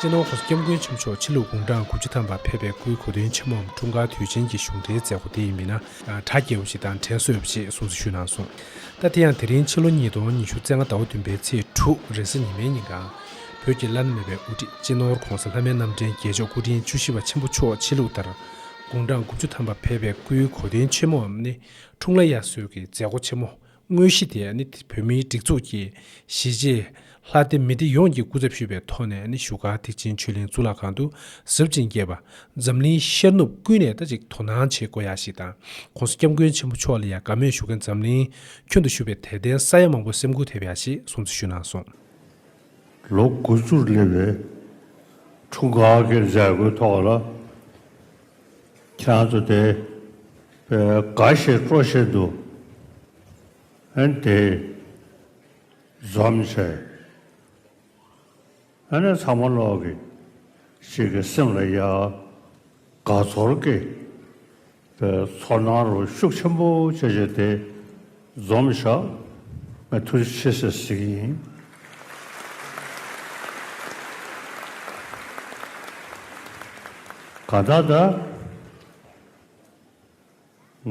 ཅེས་ནོར་བུ་སྐྱབས་མགོན་ཆེན་མཆོག་ཕྱི་ལུགས་དགུང་གྲངས་དགུ་བཅུ་ཐམ་པར་ཕེབས་པའི་སྐུའི་གོ་སྟོན་ཆེན་མོའམ་འཁྲུངས་སྐར་དུས་ཆེན་གྱི་གཞུང་འབྲེལ་མཛད་སྒོ་དེ་ཡིན་པས་ན་གྲ་རྒྱས་པོ་ཞིག་དང་དྲན་གསོས་པོ་ཞིག་གསུངས་སྲི་ཞུས་གནང་སོང། ལྟ་དེ་ཡང་དེ་རིང་ཕྱི་ལོ་ཉིས་སྟོང་ཉི་ཤུ་རྩེ་ལྔ་ཟླ་བ་བདུན་པའི་ཚེས་དྲུག་རེས་གཟའ་ཉི་མའི་ཉིན་གང། བོད་ཀྱི་བླ་ན་མེད་པའི་དབུ་ཁྲིད་སྤྱི་ནོར་གོང་ས་ལྷ་མེད་རྣམ་འདྲེན་རྒྱལ་མཆོག་སྐུ་ཕྲེང་བཅུ་བཞི་པ་ཆེན་པོ་མཆོག་ཕྱི་ལུགས་ལྟར་དགུང་གྲངས་དགུ་བཅུ་ཐམ་པར་ཕེབས་པའི་སྐུའི་གོ་སྟོན་ཆེན་མོའམ་ནི་འཁྲུངས་ལ་དབྱར་གསོལ་གྱི་མཛད་སྒོ་ཆེན་མོ་དངོས་གཞི་དེ་ནི་བོད་མིའི་སྒྲིག་འཛུགས་ཀྱི་གཞིས་བྱེས་ལྷ་སྡེ་མི་སྡེ་ཡོངས་ཀྱིས་སྐུ་ཚབ་ཞུས་པའི་ཐོག་ནས་བཞུགས་སྒར་ཐེག་ཆེན་ཆོས་གླིང་གཙུག་ལག་ཁང་དུ་གཟབ་ཅིང་རྒྱས་པ། འཛམ་གླིང་ཤར་ནུབ་ཀུན་ནས་ད་ཅིག་དོ་སྣང་བྱེད་དགོས་ཡ་ཞིག་དང་ཁོང་སྐྱབས་མགོན་ཆེན་པོ་མཆོག་ལ་ཡང་དགའ་མོས་ཞུ་མཁན་འཛམ་གླིང་ཁྱོན་དུ་བཞུགས་པའི་དད་ལྡན་ས་ཡ་མང་པོ་སེམས་འགུག་ཐེབས་ཡ་ཞིག་གསུང་ཚིག་ཞུས་གནང་སོང། ལོ་དགུ་བཅུར་སླེབས་པའི་ཁྲུང་ག་ཨ་ཁེར་འཇར་གོའི་ཐོག་ལ་ཁྱེད་རང་ཚོ་དེ་འགའ་ཞིག་སྤྲོ་བཞིན་འདུག་ཨན་དེ་འཛོམས་བྱས། ཨ་ནེ་ཚང་མ་ལོག་གི་ཞིག་གི་སེམས་ལ་ཡ་ག་ཚོར་གི། ཚོར་སྣང་རོ་ཤུགས་ཆེན་པོ་བྱེད་བྱེད་དེ། རྫོང་མི་ཤག། ང་ཐུགས་རྗེ་ཆེ་ཞེས་ཞུ་གི་ཡིན། གང་ལྟར་ད།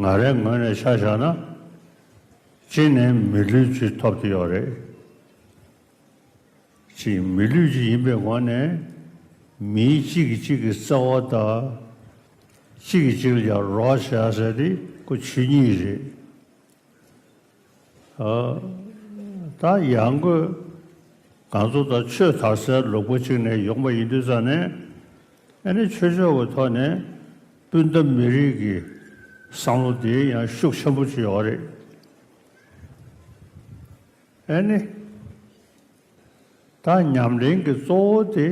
ང་རའི་ངོས་ནས་ཤ་བཞག་ན། གཅིག་ནས་མི་ལུས་ཅི་ཐོབ་ཀྱི་ཡོད་རེད། ཅིག་མི་ལུས་ཅིག་ཡིན་པའི་ངང་ནས་མིའི་གཅིག་གིས་གཅིག་གི་རྩ་བ་བརྟག། གཅིག་གིས་གཅིག་ལ་ཀྱང་རོགས་བྱ་ཟེར་དེ་སྐུ་ཆོས་ཉིད་རེད། ད་ཡང་སྒོས་གང་ཚོ་དང་ཆོས་དར་སའི་ལུག་པོ་གཅིག་ནས་ཡོང་པ་ཡིན་དུས་ཙང་ནས་ཨེ་ནས་ཆོས་ཕྱོགས་ཀྱི་ཐོག་ནས་སྤུན་ཟླ་མི་རིགས་ཀྱི་བསམ་བློ་དེའི་ཡང་ཤུགས་ཆེན་པོ་བྱུང་ཡོད་རེད། ཨེ་ནི། ད་ཉམས་ལེན་གྱི་གཙོ་བོ་དེ་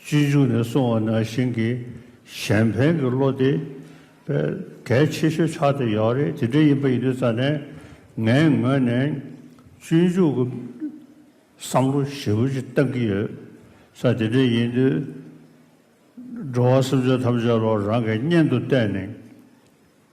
སྤྱི་འཇུག་ནས་གསུང་བ་ནང་བཞིན་གྱི་གཞན་ཕན་གྱི་བློ་དེ་བས་གལ་ཆེ་ཤོས་ཆགས་ཏེ་ཡོད་རེད་དེ་འདྲ་ཡིན་པ་ཡིན་དུས་ཙཱ་ནས་ངའི་ངོས་ནས་སྤྱི་འཇུག་གི་བསམ་བློ་ཞེ་བོ་ཅིག་བཏང་གི་ཡོད་ས་དེ་འདྲ་ཡིན་དུས། འགྲོ་བ་སེམས་ཅན་ཐམས་ཅད་བློ་རང་གི་གཉེན་དུ་བལྟས་ནས།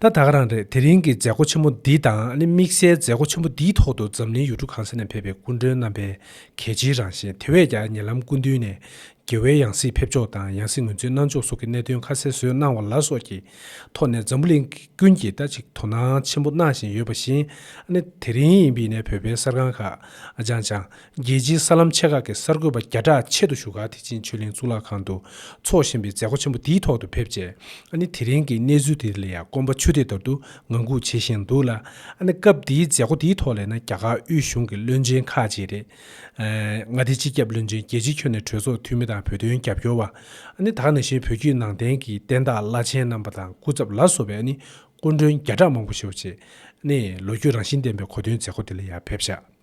ད་ད་ག་རང་རེད་དེ་རིང་གི་མཛད་སྒོ་ཆེན་མོ་འདི་དང་ནི་དམིགས་བསལ་མཛད་སྒོ་ཆེན་མོ་འདིའི་ཐོག་ཏུ་འཛམ་གླིང་ཡུལ་གྲུ་གང་ས་ནས་ཕེབས་པའི་སྐུ་མགྲོན་རྣམ་པའི་གལ་ཆེའི་རང་བཞིན་དེ་བས་ཀྱང་ཉེ་ལམ་སྐུ་མདུན་ནས་དགེ་བའི་ཡང་སྲིད་ཕེབས་ཕྱོགས་དང་ཡང་སྲིད་ངོས་འཛིན་གནང་ཕྱོགས་སོགས་ཀྱི་གནད་དོན་ཁ་གསལ་བཟོས་གནང་བ་ལ་སོགས་ཀྱི་ཐོག་ནས་འཛམ་བུ་གླིང་ཀུན་གྱིས་ད་ཅིག་དོ་སྣང་ཆེན་པོ་གནང་བཞིན་ཡོད་པ་བཞིན་ནི་དེ་རིང་ཡིན་པའི་ནས་བོད་པའི་གསར་ཁང་ཁག་ཅང་ཅང་རྒྱལ་སྤྱིའི་གསར་ལམ་ཆེ་ཁག་གི་གསར་འགོད་པ་བརྒྱ་ཕྲག་ཆེད་དུ་བཞུགས་སྒར་ཐེ་ཅིན་ཆོས་གླིང་གཙུག་ལག་ཁང་དུ་འཚོགས་བཞིན་པའི་མཛད་སྒོ་ཆེན་པོ་འདིའི་ཐོག་ཏུ་ཕེབས་རྗེས་ཨ་ནི་དེ་རིང་གི་གནས་ཚུལ་དེ་ལ་ཡང་སྐོམ་པ་ཆུ་ཐིགས་ལྟར་དུ་ངང་སྒུག་བྱེད་བཞིན་འདུག་ལ། ཨ་ནི་སྐབས་འདིའི་མཛད་སྒོ་འདིའི་ཐོག་ལས་ན་རྒྱ་གར་དབུས་གཞུང་གི་བློན་ཆེན་ཁག་ཅིག་རེད། མངའ་སྡེའི་སྤྱི་ཁྱབ་བློན་ཆེན་རྒྱལ་སྤྱི་ཁྱོན་ནས་གྲོས་ཚོགས་འཐུས་མི་དང་བོད་དོན་རྒྱབ་སྐྱོར་བ། ཨ་ནི་དག་ནང་བཞིན་བོད་བརྒྱུད་ནང་བསྟན་གྱི་བསྟན་བདག་བླ་ཆེན་རྣམ་པ་དང་སྐུ་ཚབ་ལ་སོགས་པའི་ཨ་ནི་སྐུ་མགྲོན་བརྒྱ་ཕྲག་མང་པོ་ཞུགས་རྗེས། ཨ་ནི་ལོ་རྒྱུས་རང་བཞིན་ལྡན་པའི་གོ་སྟོན་མཛད་སྒོ་འདི་ལ་ཡང་ཕེབས་བཞག་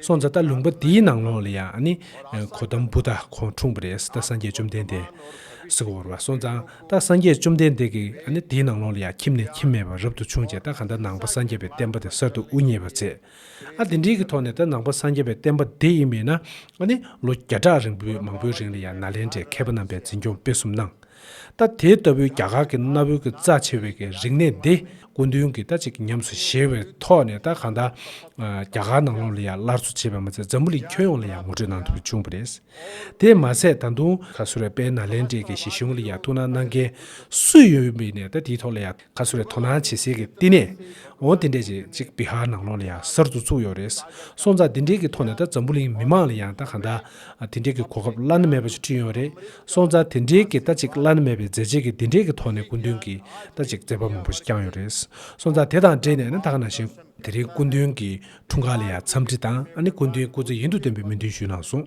སོང་ཙང་ད་ལུང་པ་འདིའི་ནང་ལོགས་ལ་ཡང་ནི་གོ་དམ་བུ་དག་ཁོང་འཁྲུངས་པ་རེད་ད་སངས་རྒྱས་བཅོམ་ལྡན་འདས། སུ་གོ་བོར་བ་སོང་ཙང་ད་སངས་རྒྱས་བཅོམ་ལྡན་འདས་ཀྱི་འདིའི་ནང་ལོགས་ལ་ཡང་ཁྱིམ་ནས་ཁྱིམ་མེད་པར་རབ་ཏུ་བྱུང་བྱས་ད་ག་ད་ནང་པ་སངས་རྒྱས་པའི་བསྟན་པ་དེ་གསར་དུ་དབུ་བརྙེས་པར་མཛད། ཨ་དེ་འདྲིའི་གི་ཐོག་ནས་ད་ནང་པ་སངས་རྒྱས་པའི་བསྟན་པ་འདི་ཡིན་མིན་ན་ནི་ལོ་བརྒྱ་ཕྲག་རིང་པོའི་མང་པོའི་རིང་ལ་ཡང་ནཱ་ལེནྡྲའི་མཁས་པ་རྣམ་པས་འཛིན་སྐྱོང་སྤེལ་གསུམ་གནང། ད་དེ་ལྟ་བུའི་རྒྱ་གར་གྱི་གནའ་བོའི་གི་རྩ་ཆེ་བའི་གི་རིག་གནས་འདི་སྐུ་མདུན་གྱིས་ད་ཅིག་ཉམས་སུ་བཞེས་བའི་ཐོག་ནས་ད་གང་ད། རྒྱ་གར་ནང་ལོགས་ལ་ཡང་སླར་གསོ་བྱས་པ་མ་ཚད་འཛམ་བུ་གླིང་ཁྱོན་ཡོངས་ལ་ཡང་ངོ་སྤྲོད་གནང་ཐུབ་བྱུང་བ་རེད། དེས་མ་ཚད་ད་དུང། ཁ་སུ་ར་པའི་ནཱ་ལེནྡྲའི་གི་གཞིས་གཞུང་ལ་ཡང་ཐུགས་སྣང་གནང་མཁན་སུ་ཡོད་མེད་ནས་ད་དེའི་ཐོག་ལ་ཡང། ཁ་སུ་རེ་དོ་སྣང་བྱེད་སའི་གི་བསྟི་གནས། འོ་དེ་འདྲས་ཀྱི་གཅིག་བི་ཧར་ནང་ལོགས་ལ་ཡང་གསར་དུ་བཙུགས་ཡོད་རེད། སོང་ཙང་དེ་འདྲས་གི་ཐོག་ནས་ད་འཛམ་བུ་གླིང་མི་མང་ལ་ཡང་ད་གང་ད། དེ་འདྲས་གི་གོ་སྐབས་བླ་ན་མེད་པ་ཅིག་བསྐྲུན་ཡོད་རེད། སོང་ཙང་དེ་འདྲས་གི་ད་གཅིག་བླ་ན་མེད་པའི་མཛད་རྗེས་གི་དེ་འདྲས་གི་ཐོག་ནས་སྐུ་མདུན་གི་ད་གཅིག་མཛད་པ་མང་པོ་ཞིག་བསྐྱངས་ཡོད་རེད། སོང་ཙང་དེ་དང་འབྲེལ་ནས་ནི་ད་ག་ནང་བཞིན། དེ་རིང་སྐུ་མདུན་གི་འཁྲུངས་སྐར་ལ་ཡང་འཚམས་འདྲི་དང་ཨ་ནི་སྐུ་མདུན་སྐུ་ཚེ་ཡུན་དུ་བརྟན་པའི་སྨོན་འདུན་ཞུས་གནང་སོང།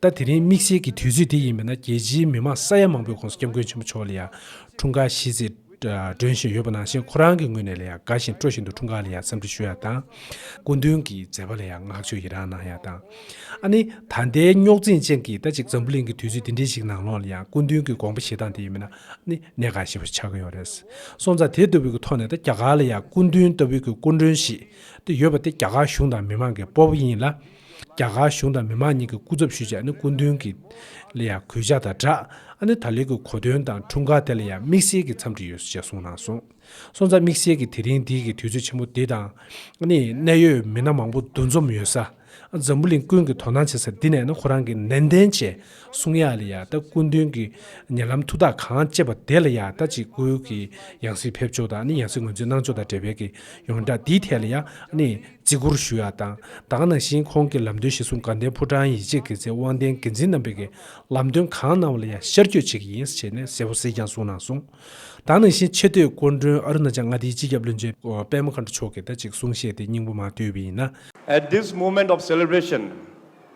ད་དེ་རིང་དམིགས་བསལ་གྱི་དུས་ཚོད་དེ་ཡིན་པས་ན་རྒྱལ་སྤྱིའི་མི་མང་ས་ཡ་མང་པོའི་ཁོངས་སུ་སྐྱབས་མགོན་ཆེན་པོ་མཆོག་ལ་ཡང་འཁྲུངས་སྐར་ཤིས་ཚིག་སྒྲོན་བཞིན་ཡོད་པ་ནང་བཞིན་ཁོ་རང་གི་ངོས་ནས་ལ་ཡང་དགའ་བཞིན་སྤྲོ་བཞིན་དུ་འཁྲུངས་སྐར་ལ་ཡང་འཚམས་འདྲི་ཞུ་ཡག་དང། སྐུ་མདུན་གྱི་མཛད་པ་ལ་ཡང་བསྔགས་བརྗོད་ཡི་རང་གནང་ཡག་དང། ཨ་ནི་ད་ལྟའི་རྙོག་འཛིང་ཅན་གྱི་ད་ཅིག་འཛམ་བུ་གླིང་གི་དུས་ཚོད་འདི་འདྲའི་ཞིག་ནང་ལོགས་ལ་ཡང་སྐུ་མདུན་གྱི་དགོངས་པ་བཞེས་སྟངས་དེ་ཡིན་པས་ན་ཨ་ནི་གནད་འགག་ཞེ་པོ་ཆགས་ཀྱི་ཡོད་རེད། སོང་ཙང་དེ་ལྟ་བུའི་གི་ཐོག་ནས་ད་རྒྱ་གར་ལ་ཡང་སྐུ་མདུན་ལྟ་བུའི་གི་སྐུ་མགྲོན་ཞིག་ད་ཡོད་པ་དེ་རྒྱ་གར་གཞུང་དང་མི་མང་གི་སྤོབས་པ་ཡིན་ལ། རྒྱ་གར་གཞུང་དང་མི་མང་གཉིས་ཀྱི་སྐུ་ཚབ་ཞུས་བྱས་ནི་སྐུ་མདུན་གྱི་ལ་ཡང་གུས་ཕྱག་དང་སྦྲགས་ཨ་ནི་ད་ལོའི་གི་གོ་སྟོན་དང་འཁྲུངས་སྐར་དེ་ལ་ཡང་དམིགས་བསལ་གྱི་འཚམས་འདྲི་ཡོད་ཞེས་གསུངས་གནང་སོང། སོང་ཙང་དམིགས་བསལ་གྱི་དེ་རིང་འདི་གི་དུས་ཚོད་ཆེན་མོ་འདི་དང། ཨ་ནི་གནད་ཡོད་མི་སྣ་མང་པོ་འདུ་འཛོམས་ཡོད་ས། འཛམ་བུ་གླིང་ཀུན་གྱི་དོ་སྣང་བྱེད་ས་འདི་ནས་ནི་ཁོ་རང་གི་ནན་ཏན་བྱས་གསུང་ཡག་ལ་ཡང་ད་སྐུ་མདུན་གྱི་ཉེ་ལམ་ཐུགས་ཐག་གང་བཅད་པ་དེ་ལ་ཡང་ད་ཅིག་སྐུའི་གི་ཡང་སྲིད་ཕེབས་ཕྱོགས་དང་ཨ་ནི་ཡང་སྲིད་ངོས་འཛིན་གནང་ཕྱོགས་དང་འབྲེལ་བའི་གི་ཡོངས་གྲགས་འདིའི་ཐད་ལ་ཡང་ཨ་ནི། བརྩི་བཀུར་ཞུ་ཡག་དང་དང་ནང་བཞིན་ཁོང་གི་ལམ་སྟོན་གཞི་བཟུང་དགའ་ལྡན་ཕོ་བྲང་ཡིད་ཆེས་དགེ་རྩའི་དབང་ལྡན་འགན་འཛིན་རྣམ་པས་ཀྱི་ལམ་སྟོན་གང་གནང་བ་ལ་ཡང་ཤར་བསྐྱོད་བྱེད་ཀྱི་ཡིན་ཟེར་ནས་གསལ་བོ་གསལ་རྐྱང་གསུངས་གནང་སོང། དང་ནང་བཞིན་ཆེ་བསྟོད་སྐུ་མགྲོན་ཨ་རུ་ན་ཅལ་མངའ་སྡེའི་སྤྱི་ཁྱབ་བློན་ཆེན་པད་མ་མཁའ་འགྲོ་མཆོག་གིས་ད་ཅིག་གསུང་བཤད་དེ་སྙིང་པོ་མ་བསྡུས་པ་ཡིན་ན། At this moment of celebration,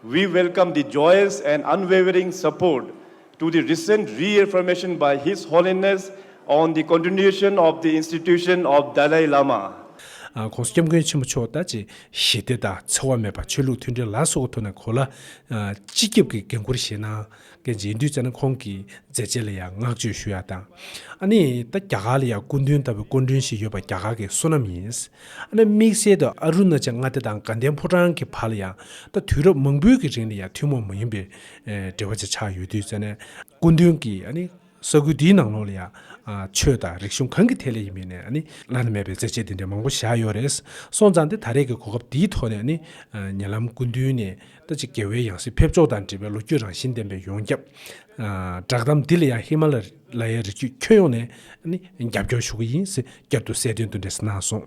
we welcome the joyous and unwavering support to the recent reaffirmation by His Holiness on the continuation of the institution of Dalai Lama, ཁོང་སྐྱབས་མགོན་ཆེན་པོ་མཆོག་ལྟ་ཅི་ཞི་བདེ་དང་འཚེ་བ་མེད་པ་ཆོས་ལུགས་མཐུན་སྒྲིལ་ལ་སོགས་ཀྱི་ཐོག་ནས་གོ་ལ་སྤྱི་ཁྱབ་ཀྱི་འགན་ཁུར་བཞེས་གནང་གལ་ཆེ་འདུག་ཅེས་ན་ཁོང་གི་མཛད་རྗེས་ལ་ཡང་བསྔགས་བརྗོད་ཞུ་ཡག་དང། ཨ་ནི་ད་རྒྱ་གར་ལ་ཡང་སྐུ་མདུན་ལྟ་བུའི་སྐུ་མགྲོན་ཞིག་ཡོད་པ་རྒྱ་གར་གྱི་བསོད་ནམས་ཡིན། ཨ་ནི་དམིགས་བསལ་དུ་ཨ་རུ་ན་ཅལ་མངའ་སྡེ་དང་དགའ་ལྡན་ཕོ་བྲང་གི་བར་ལ་ཡང་ད་དུས་རབས་མང་པོའི་གི་རིང་ལ་ཡང་ཐུན་མོང་མ་ཡིན་པའི་འབྲེལ་བ་ཅིག་ཆགས་ཡོད་དུས་ཙནད་སྐུ་མདུན་གྱིས་ས་ཁུལ་འདིའི་ནང་ལོགས་ལ་ཡང་ཆོས་དང་རིག་གཞུང་གང་གི་ཐད་ལ་ཡིན་མིན་ནས་བླ་ན་མེད་པའི་རྩེད་ཆས་འདི་འདྲ་མང་པོ་བཞག་ཡོད་རེད། སོང་ཙང་སྟེ་ད་རེས་ཀྱི་གོ་སྐབས་འདིའི་ཐོག་ནས་ཉེ་ལམ་སྐུ་མདུན་ནས་ད་ཅི་དགེ་བའི་ཡང་སྲིད་ཕེབས་ཕྱོགས་དང་འབྲེལ་བའི་ལོ་རྒྱུས་རང་བཞིན་ལྡན་པའི་ཡོངས་ཁྱབ་བསྒྲགས་གཏམ་འདི་ལ་ཡང་ཧི་མ་ལ་ཡའི་རི་རྒྱུད་ཁྱོན་ཡོངས་ནས་རྒྱབ་སྐྱོར་ཞུ་གི་ཡིན་ཟེར་བསྐྱར་དུ་གསལ་འདོན་འདི་འདྲ་གནང་སོང།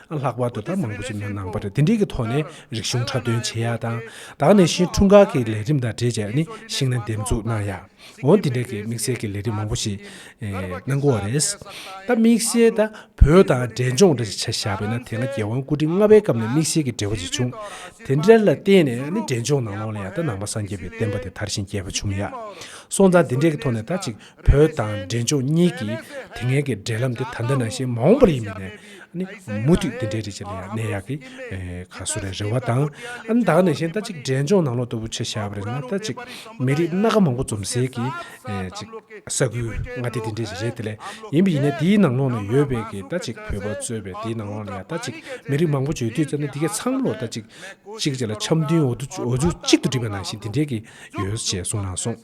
ལྷག་པར་དུ་ད་མང་པོ་ཞིག་ནང་ནང་པར་དེ་འབྲེལ་གྱི་ཐོག་ནས་རིག་གཞུང་འཁྲབ་སྟོན་བྱེད་ཡག་དང། ད་ནས་བཞིན་འཁྲུངས་སྐར་གྱི་ལས་རིམ་དང་འབྲེལ་བྱས་ནས་ཤིང་སྣ་འདེབས་འཛུགས་གནང་ཡག་འོང་དེ་འབྲེལ་གྱི་དམིགས་བསལ་གྱི་ལས་རིམ་མང་པོ་ཞིག་གནང་དགོས་བ་རེད། ད་དམིགས་བསལ་ད་བོད་དང་འབྲེལ་ལྗོངས་འདྲ་ཞིག་བྱ་བཞག་པས་ན་དེ་སྔ་རྒྱལ་དབང་སྐུ་ཕྲེང་ལྔ་པའི་སྐབས་ནས་དམིགས་བསལ་གྱི་འབྲེལ་བ་ཞིག་བྱུང། དེ་འདྲ་ལ་བརྟེན་ནས་ནི་འབྲེལ་ལྗོངས་ནང་ལོགས་ལ་ཡང་ད་ནང་པ་སངས་རྒྱས་པའི་བསྟན་པ་དེ་དར་ཞིང་རྒྱས་པ་བྱུང་ཡག་སོང་ད་དེ་འབྲེལ་གྱི་ཐོག་ནས་ད་ཅིག་བོད་དང་འབྲས་ལྗོངས་གཉིས་ཀྱི་དེ་སྔའི་གི་འབྲེལ་ལམ་དེ་ད་ལྟ་ནང་བཞིན་མ་འོངས་པར་ཡིན་མིན་ནི། ནི་མུ་མཐུད་དེ་འདྲའི་རེད་ཅེས་ལན་ཡང་གནས་ཡག་གི། ག་སུ་རེད་རེད་བ་དང། ཨ་ནི་ད་ག་ནས་ཤེས་ད་ཅིག་འབྲས་ལྗོངས་ནང་ལོག་ལྟ་བུ་ཆེ་ཞར་བ་རེད་ན་ད་ཅིག། མི་རིགས་སྣ་ཁ་མང་པོ་འཛོམས་སའི་གི། ཅིག་ས་ཁུལ་མངའ་སྡེ་དེ་འདྲའི་ཞིག་རེད་དེ་ལས་ཡིན་པ་ཡིན་ན་དེའི་ནང་ལོག་ནས་ཡོད་པའི་གི་ད་ཅིག་བོད་པ་གཙོས་པའི་དེའི་ནང་ལོག་ལ་ཡང་ད་ཅིག་མི་རིགས་མང་པོ་བརྗོད་དུས་ཙམ་ནས་དེ་གའི་ཚང་ལོག་ད་ཅིག། ཅིག་ཅེས་ལ་འཆམ་མཐུན་འོ་འོ་ཆུ་གཅིག་ཏུ་སྒྲིལ་བ་ནང་བཞིན་དེ་འདྲའི་གི་ཡོད་ཅེས་གསུངས་གནང་སོང།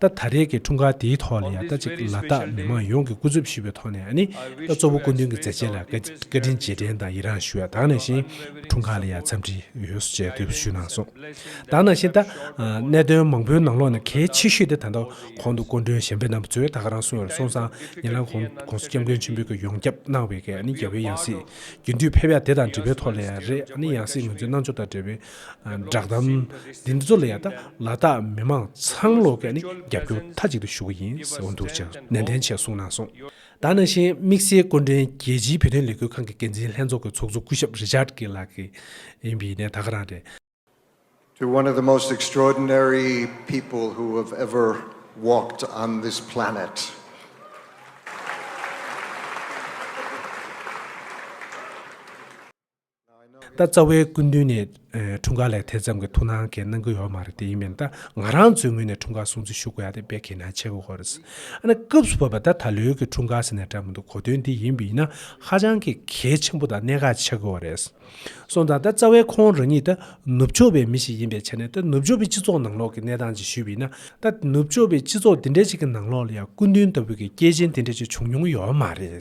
ད་ད་རེས་ཀྱི་འཁྲུངས་སྐར་དེའི་ཐོག་ལ་ཡང་ད་ཅིག་ལ་དྭགས་མི་མང་ཡོངས་ཀྱི་སྐུ་རྩོད་ཞུས་པའི་ཐོག་ནས་ནི་ད་གཙོ་བོ་སྐུ་མདུན་གྱི་མཛད་རྗེས་ལ་བཀའ་དྲིན་རྗེས་དྲན་དང་ཡི་རངས་ཞུ་བ་དང་ནང་བཞིན་འཁྲུངས་སྐར་ལ་ཡང་འཚམས་འདྲི་ཡོད་སོ་ཅེས་དེ་བས་ཞུས་གནང་སོང། དང་ནང་བཞིན་ད། གནད་དོན་མང་པོའི་ནང་ལོགས་ནས་གལ་ཆེ་ཤོས་དེ་ད་ལྟ་གོང་དུ་སྐུ་མགྲོན་གཞན་པའི་རྣམ་པ་ཚོས་ད་ག་རང་སོང་ཡོད་ལ་སོང་ཙང་ཉེ་ལམ་གོང་དུ་སྐྱབས་མགོན་ཆེན་པོས་ཀྱི་ཡོངས་ཁྱབ་གནང་བའི་ནི་རྒྱལ་བའི་ཡང་སྲིད་རྒྱུན་མཐུད་ཕེབས་ཡ་དེ་དང་འབྲེལ་བའི་ཐོག་ལ་ཡང་རེད་ཡང་སྲིད་ངོས་འཛིན་གནང་ཕྱོགས་དང་འབྲེལ་བའི་བསྒྲགས་གཏམ་འདི་ཚོ་ལ་ཡང་ལ་དྭགས་མི་མང་ཚང་ལོག་གེ་ནི་རྒྱབ་སྐྱོར་མཐའ་གཅིག་ཏུ་ཞུ་གི་ཡིན་ཟེར་བ་འདུག་ཅེས་ནན་ཏན་ཆེ་གསུངས་གནང་སོང། ད་ནང་བཞིན་དམིགས་བསལ་སྐུ་མགྲོན་རྒྱལ་སྤྱིའི་བོད་དོན་ལས་འགུལ་ཁང་གི་འགན་འཛིན་ལྷན་ཚོགས་ཀྱི་ཚོགས་གཙོ་སྐུ་ཞབས་རི་ཅཱརྡ་ཀེ་ལགས་ཀྱི་ཡིན་པའི་ནས་ད་ག་རང་རེད། ད་རྩ་བའི་སྐུ་མདུན་ནས་འཁྲུངས་སྐར་ལས་དེ་ཙམ་གྱི་ཐུགས་སྣང་གནང་གི་ཡོད་མ་རེད་དེ་ཡིན་མིན་ད་ང་རང་ཚོའི་ངོས་ནས་འཁྲུངས་སྐར་སྲུང་བརྩི་ཞུ་དགོས་ཡ་དེ་དཔེ་ཁས་ན་ཆེ་གི་ཧོ་རེད། ཨ་ན་སྐབས་སུ་བབས་པ་ད་ད་ལོའི་གི་འཁྲུངས་སྐར་ཟེར་ནས་བསྒྲགས་མི་འདུག་གོ་དོན་འདི་ཡིན་པས་ན་ཧ་ཅང་གི་གལ་ཆེན་པོ་དང་གནད་འགག་ཆགས་གི་ཨོ་རེད། སོང་དང་ད་རྩ་བའི་ཁོང་རང་ཉིད་ད་ནུབ་ཕྱོགས་པའི་མི་ཞིག་ཡིན་པའི་ཆ་ནས་ད་ནུབ་ཕྱོགས་པའི་སྤྱི་ཚོགས་ནང་ལོགས་གི་གནས་སྟངས་ཅིག་ཞུས་པས་ན་ད་ནུབ་ཕྱོགས་པའི་སྤྱི་ཚོགས་འདི་འདྲ་ཅིག་གི་ནང་ལོགས་ལ་ཡང་སྐུ་མདུན་ལྟ་བུ་གི་སྐྱེས་ཆེན་དེ་འདྲ་ཅིག་བྱུང་མྱོང་གི་ཡོད་མ་རེད།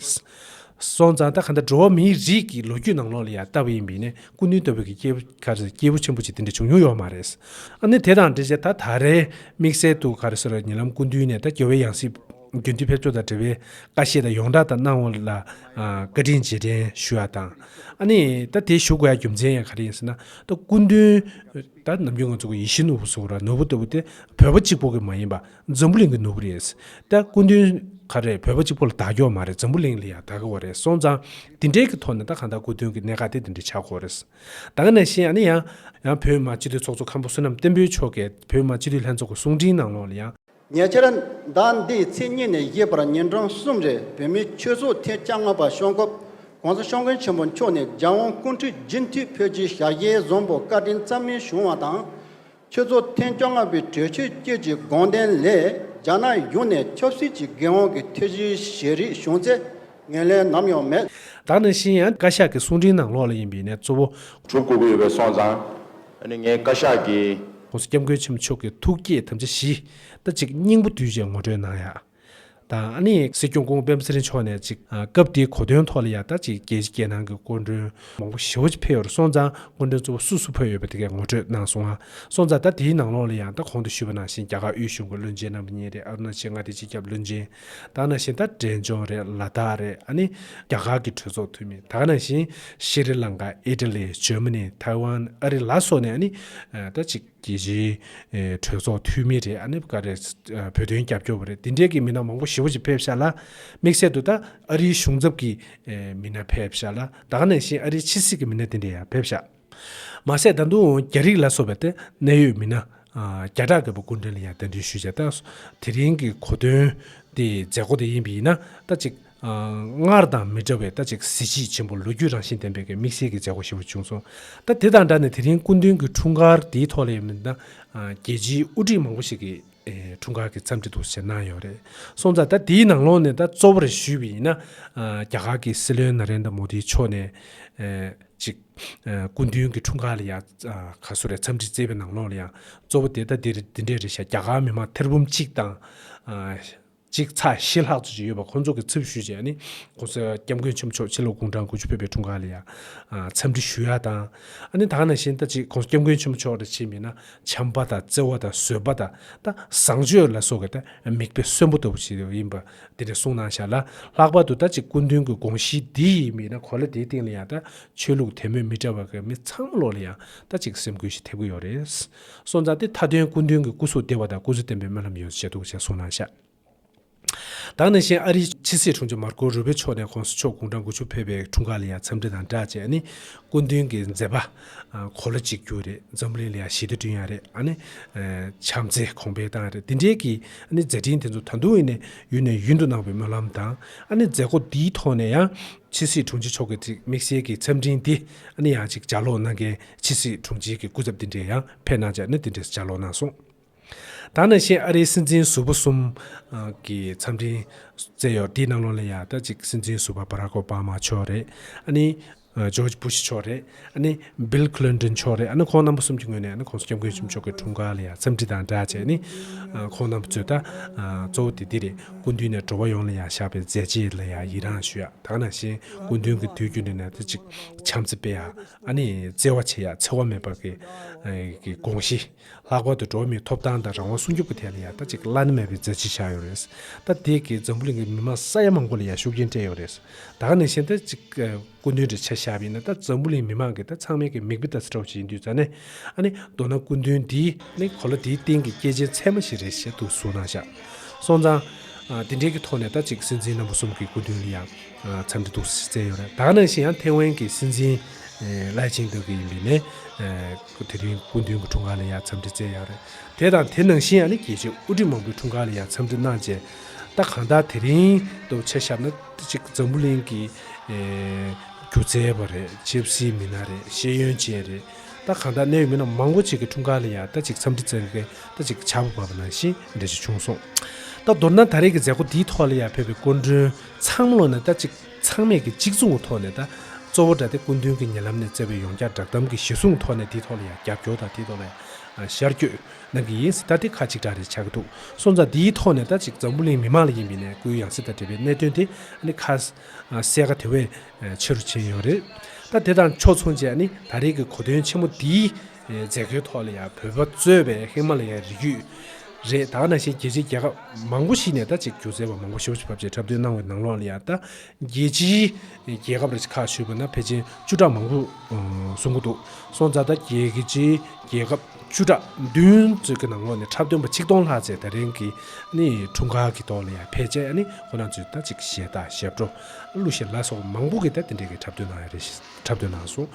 སོང་ཙང་ད་ག་འདྲ་འགྲོ་བ་མིའི་རིགས་ཀྱི་ལོ་རྒྱུས་ནང་ལོགས་ལ་ཡང་ལྟ་བུ་ཡིན་པས་ནས་སྐུ་མདུན་ལྟ་བུ་གི་སྐྱེས་བུ་ག་རེ་སྐྱེས་བུ་ཆེན་པོ་ཅིག་དེ་འདྲ་བྱུང་མྱོང་ཡོད་མ་རེད། ཨ་ནི་དེ་དང་འབྲེལ་བྱས་ད་ད་རེས་དམིགས་བསལ་དུ་ག་རེ་སོ་རེ་ཉེ་ལམ་སྐུ་མདུན་ནས་ད་དགེ་བའི་ཡང་སྲིད་རྒྱུན་མཐུད་ཕེབས་ཕྱོགས་དང་འབྲེལ་བའི་བཀའ་བཞེས་དང་ཡོངས་གྲགས་ད་གནང་བ་ལ་བཀའ་དྲིན་རྗེས་དྲན་ཞུ་བ་དང། ཨ་ནི་ད་དེ་ཞུ་དགོས་ཡ་རྒྱུ་མཚན་ཡང་ག་རེ་ཡིན་ཟེར་ན་ད་སྐུ་མདུན། ད་ནམ་རྒྱུན་ང་ཚོ་གི་ཡིད་བཞིན་ནོར་བུ་སོགས་ར་ནོར་བུ་ལྟ་བུ་དེ་བོད་པ་གཅིག་པོ་གི་མ་ཡིན་པ་འཛམ་བུ་གླིང་གི་ནོར་བུ་རེད། ད་སྐུ་མདུན། ག་རེད་བོད་པ་གཅིག་པོ་ལ་དག་གྱོག་མ་རེད་འཛམ་བུ་གླིང་ལ་ཡང་དག་གྱོག་རེད་སོང་ཙང། འདི་འདྲའི་གི་ཐོག་ནས་ད་གང་ལྟར་སྐུ་མདུན་གི་གནད་འགག་དེ་འདི་འདྲ་ཆགས་དགོས་རེད། ད་ག་ནས་བཤད་ཡང་ན་ཡང། ཡང་བོད་མི་མང་སྤྱི་འཐུས་ཚོགས་གཙོ་ཁམས་པོ་བསོད་ནམས་བསྟན་འཕེལ་མཆོག་གས་བོད་མི་མང་སྤྱི་འཐུས་ལྷན་ཚོགས་ཀྱི་གསུང་འཕྲིན་ནང་ལོགས་ལ་ཡང། ཉེ་ཆར། ཟླ་འདིའི་ཚེས་གཉིས་ནས་བཞི་བར་ཉིན་གྲངས་གསུམ་རེར་བོད་མིའི་ཆོས་ཚོགས་ཐེངས་བཅྭ་ལྔ་པ་ཤོང་སྐབས། ྋགོང་ས ྋསྐྱབས་མགོན་ཆེན་པོ་མཆོག་ནས ྋརྒྱལ་དབང་སྐུ་འཁྲིད་རྒྱུན་མཐུད་ཕེབས་རྗེས་ཞྭ་ཤེལ་རྫོང་པོ་བཀའ་དྲིན་རྩ་མེད་བྱུང་བ་དང། ཁྱོད་ཚོ་ཐེངས་བཅོ་ལྔ་པའི་གྲོས་ཆོད་བསྐྱོད་ཀྱི་དགོངས་དོན་ལས་རྒྱ་ནག་གཞུང་ནས་ཆབ་སྲིད་ཀྱི་འགན་དབང་གི་ཐེ་བྱུས་བཞེས་རིགས་བྱུང་ཚེ་ངོས་ལེན་ནམ་ཡང་མེད། བདག་ནི་ཤི་ཡང་བཀའ་ཤག་གི་གསུང་འཕྲིན་ནང་ལོགས་ལ་ཡིན་པའི་ནས་གཙོ་བོ། གྲུབ་དགོས་ཀྱི་ཡོད་པའི་སོང་ཙང། འདི་ནི་ངའི་བཀའ་ཤག་གི། ཁོང་སྐྱབས་མགོན་ཆེན་པོ་མཆོག་གི་ཐུགས་བསྐྱེད་དམ་བཅའ་བཞིདང་གཅིག་སྙིང་པོ་དུས་བཞིར་ངོ་སྤྲོད་གནང་ཡག། དང། ཨ་ནེ་སྲིད་སྐྱོང་ཀུང་བེམ་སི་རི་མཆོག་ནས་ཅིག་སྐབས་དེའི་གོ་དོན་ཐོག་ལ་ཡང་ད་ཅིག་རྒྱལ་སྤྱི་རྒྱལ་ནང་གི་སྐུ་མགྲོན་མང་པོ་ཞི་བ་ཆེ་ཕེབས་ཡོར་སོང་ཙང་སྐུ་མགྲོན་གཙོ་བོ་སུ་སུ་ཕེབས་ཡོད་པ་དེ་གས་ངོ་སྤྲོད་གནང་སོང་ང་སོང་ཙང་ད་དེའི་ནང་ལོགས་ལ་ཡང་ད་གོང་དུ་ཞུས་པ་ནང་བཞིན་རྒྱ་གར་དབུས་གཞུང་གི་བློན་ཆེན་རྣམ་པ་གཉིས་རེད་ཨ་རུ་ན་ཆེ་མངའ་སྡེའི་སྤྱི་ཁྱབ་བློན་ཆེན་དང་ནང་བཞིན་ད་འབྲས་ལྗོངས་རེད་ལ་དྭགས་རེད་ཨ་ནེ་རྒྱ་གར་གི་གྲོས་ཚོགས་འཐུས་མི་དང་ནང་བཞིན་ཤི་རི་ལང་ཀ་ཨི་ཏི་ལི་ཇོས་མ་ནི་ཐའི་ཝན་ཨ་རི་ལ་སོགས་ནས་ཨ་ནེ་ད་ཅིག། རྒྱལ་སྤྱིའི་གྲོས་ཚོགས་འཐུས་མི་རེད་ཨ་ནེ་ཀ་རེད། བོད་དོན་རྒྱབ་སྐྱོར་བ་རེད་དེ་འདྲའི་གི་མི་སྣ་མང་པོ་ཞེ་བོ་ཅིག་ཕེབས་ཤག་ལ། དམིགས་བསལ་དུ་ད་ཨ་རིའི་གཞུང་ཚབ་ཀྱི་མི་སྣ་ཕེབས་ཤག་ལ་ད་ག་ནས་བཞིན་ཨ་རིའི་ཕྱི་སྲིད་ཀྱི་མི་སྣ་དེ་འདྲ་ཡང་ཕེབས་ཤག། མ་ཟད་ད་དུང་རྒྱ་རིགས་ལ་སོགས་པའི་ཏེ་གནད་ཡོད་མི་སྣ་བརྒྱ་ཕྲག་གི་བ་སྐུ་མགྲོན་ལ་ཡང་གདན་འདྲེན་ཞུས་བྱས་ད། དེ་རིང་གི་གོ་དོན་དེ་མཛད་སྒོ་དེ་ཡིན་པས་ཡིན་ན་ད་ཅིག་སྔར་དང་མི་འདྲ་བའི་ལྟ་ཅི་གཟི་བརྗིད་ཆེན་པོ་ལོ་རྒྱུས་རང་བཞིན་ལྡན་པའི་དམིགས་བསལ་གྱི་མཛད་སྒོ་ཞེས་པ་བྱུང་སོང། ད་དེ་དང་འདྲ་ནས་དེ་རིང་སྐུ་མདུན་གྱི་འཁྲུངས་སྐར་འདིའི་ཐོག་ལས་མི་དང་རྒྱལ་སྤྱིའི་དབུ་ཁྲིད་མང་པོ་ཞིག་གིས་འཁྲུངས་སྐར་གྱི་འཚམས་འདྲི་དུ་ཞལ་གནང་ཡོད་རེད་སོང་ཙང་ད་དེའི་ནང་ལོགས་ནས་ད་གཙོ་བོ་རེ་ཞུས་པ་ཡིན་ན། རྒྱ་གར་གྱི་སྲིད་བློན་ན་རན་དཱ་མོ་དཱི་མཆོག་ནས་ཅིག་སྐུ་མདུན་གྱི་འཁྲུངས་སྐར་ལ་ཡང་ག་སུ་རེ་འཚམས་འདྲི་བསྩལ་པའི་ནང་ལོགས་ལ་ཡང་གཙོ་བོ་དེ་ད་འདི་འདྲས་རེད་བཞག་རྒྱ་གར་མི་མང་ཐེར་འབུམ་གཅིག་དང། གཅིག་ཚ་ཞེ་ལྷག་ཙུ་ཅིག་ཡོད་པ་ཁོང་ཚོ་གི་ཚབ་ཞུས་རྗེས་ནི ྋགོང་ས ྋསྐྱབས་མགོན་ཆེན་པོ་མཆོག་ཕྱི་ལོག་དགུང་གྲངས་དགུ་བཅུ་ཕེབས་པའི་འཁྲུངས་སྐར་ལ་ཡང་འཚམས་འདྲི་ཞུ་ཡ་དང། ནི་དག་ནང་བཞིན་ད་ཅིག ྋགོང་ས ྋསྐྱབས་མགོན་ཆེན་པོ་མཆོག་ལ་ཕྱིན་པས་ན་བྱམས་པ་དང་བརྩེ་བ་དང་བཟོད་པ་དང་ད་བཟང་སྤྱོད་ལ་སོགས་ཀྱི་ད་མིག་དཔེ་གསོན་པོ་ལྟ་བུ་ཞིག་ཡིན་པ་འདི་འདྲ་གསུངས་གནང་ཞར་ལ་ལྷག་པར་དུ་ད་ཅིག་སྐུ་མདུན་གྱི་དགོངས་གཞི་འདི་ཡིན་པས་ན་གོ་ལ་དེའི་སྟེང་ལ་ཡང་ད་ཆོས་ལུགས་དད་མོས་མི་འདྲ་བ་ཀྱི་མི་ཚང་མ་ལོག་ལ་ཡང་ད་ཅིག་སེམས་ཁུར་ཞིག་ཐེབས་ཀྱི་ཡོད་རེད། སོ་འཛག་སྟེ་མཐའ་དོན་སྐུ་མདུན་གྱི་སྐུ་གཟུགས་བདེ་བ་དང་སྐུ་གཟུགས་བརྟན་པོའི་སྨོན་ལམ་ཡོངས་སུ་བྱས་འདུག་ཅེས་གསུངས་གནང་ཤག། དང་ནང་བཞིན་ཨ་རིའི་ཕྱི་སྲིད་དྲུང་ཆེ་མར་ཀོ་རུ་བྷེ་མཆོག་ནས་ཁོངས་སུ་ཕྱོགས་གུང་ཁྲན་དགུ་ཆོས་ཕེབས་པའི་འཁྲུངས་སྐར་ལ་ཡང་འཚམས་འདྲི་དང་སྦྲགས་བཅས་ཨ་ནི་སྐུ་མདུན་གྱི་མཛད་པ་གོ་ལ་གཅིག་གྱུར་རེད་འཛམ་གླིང་ལ་ཡང་ཞི་བདེ་བསྐྲུན་ཡག་རེད་ཨ་ནི་བྱམས་བརྩེ་གོང་འཕེལ་བཏང་རེད་འདི་འདྲའི་གི་ཨ་ནི་མཛད་འཕྲིན་དེ་ཚོ་ད་དུང་ཨི་ཡུན་ནས་ཡུན་དུ་གནང་བའི་སྨོན་ལམ་དང་ཨ་ནི་མཛད་སྒོ་འདིའི་ཐོག་ནས་ཡང་ཕྱི་སྲིད་དྲུང་ཆེ་མཆོག་གིས་དམིགས་བསལ་གྱི་འཚམས་འཕྲིན་འདི་ཨ་ནི་ཡང་ཅིག་ལྗགས་ཀློག་གནང་མཁན་ཕྱི་སྲིད་དྲུང་ཆེ་གི་སྐུ་ཚབ་འདི་འདྲས་ཡང་ཕེབས་གནང་བྱ་ནི་དེ་འདྲས་སུ་ཆ་ལོག་གནང་སོང། ད་ནང་བཞིན་ཨ་རིའི་སྲིད་འཛིན་ཟུར་བོ་གསུམ། གི་འཚམས་འཕྲིན། བསྩལ་ཡོད་དེའི་ནང་ལོ་ལ་ཡ་ད་གཅིག་སྲིད་འཛིན་ཟུར་བ་བྷ་ར་ཀོ་བྷ་མ་མཆོག་རེད། ཨ་ནི། George Bush མཆོག་རེད། ཨ་ནི། Bill Clinton མཆོག་རེད་ཨ་ནི་ཁོང་རྣམ་པ་གསུམ་གྱི་ངོས་ནས་ཨ་ནི་ཁོངས་སུ་སྐྱབས་མགོན་ཆེན་མཆོག་གི་དྲུང་འགག་ལ་ཡ་འཚམས་འདྲི་དང་སྦྲགས་བྱས་ནི། ཁོང་རྣམ་པ་ཚོས་ད། གཙོ་བོ་དེ་འདི་རེད་སྐུ་མདུན་ནས་འགྲོ་བ་ཡོངས་ལ་ཡ་བཞག་པའི་མཛད་རྗེས་ལ་ཡ་ཡི་རངས་ཞུ་ཡ་ད་ནང་བཞིན་སྐུ་མདུན་གི་དུས་རྒྱུན་རེ་ན་ད་གཅིག་བྱམས་བརྩེ་དཔེ་ཡ། ཨ་ནི་བརྩེ་བ་ཆེ་ཡང་འཚེ་བ་མེད་པར་གྱིས། དགོངས་གཞི། ལྷག་པར་དུ་འགྲོ་བ་མིའི་ཐོབ་ཐང་དང་རང་དབང་སྲུང་སྐྱོབ་ཀྱི་ཐད་ལ་ཡང་ད་ཅིག་བླ་ན་མེད་པའི་མཛད་རྗེས་བཞག་ཡོད་རེད། ད་དེས་ཀྱིས་འཛམ་བུ་གླིང་གི་མི་དམངས་ས་ཡ་མང་པོ་ལ་ཡང་ཤུགས་རྐྱེན་སྤྲད་ཡོད་རེད། ད་ག་ནས་གཞན་ད་ཅིག་སྐུ་མདུན་འདྲ་ཆ་ཞབས་ཡིན་ན་ད་འཛམ་བུ་གླིང་མི་དམངས་ཀྱིས་ད་ཚང་མའི་ཀྱི་མིག་དཔེ་ད་ཚ་གྲོགས་ཅིག་ཡིན་དུས་ད་ནས་ཨ་ནི་མདོར་ན་སྐུ་མདུན་འདི་ནི་གོ་ལ་འདིའི་སྟེང་གི་སྐྱེས་ཆེན་ཚད་མ་ཞིག་རེད་ཞེས་དུ་གཟུང་གནང་བཞག་སོང་ཙང། དེ་འདྲའི་གི་ཐོག་ནས་ད་ཅིག་སྲིད་འཛིན་རྣམ་པ་གསུམ་གྱི་སྐུ་མདུན་ལ་ཡང། འཚམས་འདྲི་ཐུགས་གསོ་བྱས་ཡོད་རེད་ད་ནང་བཞིན་ཡང་ཐེ་ཝན་གྱི་སྲིད་འཛིན་ལའེ་ཆིང་ཏོག་གི་ཡིན་པའི་ནས་དེ་རིང་སྐུ་མདུན་གྱི་འཁྲུངས་སྐར་ལ་ཡང་འཚམས་འདྲི་བྱས་ཡོད་རེད་དེ་དང་དེ་ནང་བཞིན་ཡང་ནི་རྒྱལ་སྤྱི་དབུ་ཁྲིད་མང་པོའི་འཁྲུངས་སྐར་ལ་ཡང་འཚམས་འདྲི་གནང་རྗེས་ད་གང་ལྟར་དེ་རིང་དུ་ཆ་བཞག་ན་གཅིག་འཛམ་བུ་གླིང་གི་སྒྱུ་རྩལ་བ་རེད་ཆབ་སྲིད་མི་སྣ་རེད་ཤེས་ཡོན་ཅན་རེད་ད་གང་ལྟར་གནད་ཡོད་མི་སྣ་མང་པོ་ཅིག་གི་འཁྲུངས་སྐར་ལ་ཡང་ད་ཅིག་འཚམས་འདྲི་བྱེད་མཁན་ད་ཅིག་བྱ་བ་བབས་པ་ནང་བཞིན་འདྲ་ཅིག་བྱུང་སོང་ད་མདོར་ན་ད་རེས་ཀྱི་མཛད་སྒོ་འདིའི་ཐོག་ལ་ཡང་བོད་པའི་སྐུ་མགྲོན་ཚང་མ་ལོ་ནས་ད་ཅིག་ཚང་མས་ཀྱི་གཅིག་མཚུངས་ཀྱི་ཐོག་ནས་ད་གཙོ་བོ་དགྲ་སྡེ་སྐུ་མདུན་གྱི་ཉེ་ལམ་ནས་བསྩལ་བའི་ཡོངས་ཀྱག་བསྒྲགས་གཏམ་གྱི་གཞི་བཟུང་ཐོག་ནས་དེའི་ཐོག་ལ་ཡང་རྒྱབ་སྐྱོར་དང་དེའི་ཐོག་ལ་ཡང་ཤར་བསྐྱོད་གནང་གི་ཡིན་སྲིད་ད་དེ་ཁ་གཅིག་གྲགས་རེད་ཆགས་ཀྱི་འདུག་སོང་ཙང་དེའི་ཐོག་ནས་ད་ཅིག་འཛམ་བུ་གླིང་མི་མང་ལ་ཡིན་པའི་ནས་སྐུའི་ཡང་སྲིད་དང་འབྲེལ་བའི་གནད་དོན་དེ་ནི་ཁ་གསལ་ཁ་དེ་བས་ཆེ་རུ་ཕྱིན་ཡོད་རེད་ད་དེ་དང་ཕྱོགས་མཚུངས་བཅས་ནི་ད་རེས་ཀྱི་གོ་དོན་ཆེན་མོ་འདིའི་མཛད་སྒོའི་ཐོག་ལ་ཡང་བོད་པ་གཙོས་པའི་ཧི་མ་ལ་ཡའི་རི་རྒྱུད། རེད་ད་ནང་བཞིན་རྒྱལ་སྤྱིའི་རྒྱལ་ཁབ་མང་པོ་ཞིག་ནས་ད་ཅིག་སྒྱུ་རྩལ་བ་མང་པོ་ཞོ་ཕྱི་ཕབ་རྗེས་འཁྲབ་སྟོན་གནང་བའི་ནང་ལོགས་ལ་ཡང་ད་རྒྱལ་སྤྱིའི་རྒྱལ་ཁབ་རིགས་ཁག་ཞུས་པ་ན་ཕལ་ཆེན་བཅུ་ཕྲག་མང་པོ་སོང་གི་འདུག་སོང་ཙང་ད་རྒྱལ་སྤྱིའི་རྒྱལ་ཁབ་བཅུ་ཕྲག་བདུན་ཙུག་གི་ནང་ལོགས་ནས་འཁྲབ་སྟོན་པ་ཆིག་སྟོང་ལྷག་བཅས་ད་རིང་གི་འཁྲུངས་སྐར་གི་ཐོག་ལ་ཡང་ཕལ་ཆེར་ཁོ་རང་ཚོས་ད་ཅིག་ཞལ་བརྡ་ཞལ་བྲོ་གླུ་ཞེ་ལ་སོགས་མང་པོ་གིས་ད་དེ་འདྲའི་གི་འཁྲབ་སྟོན་གནང་ཡ་རེད་འཁྲབ་སྟོན་གནང་སོང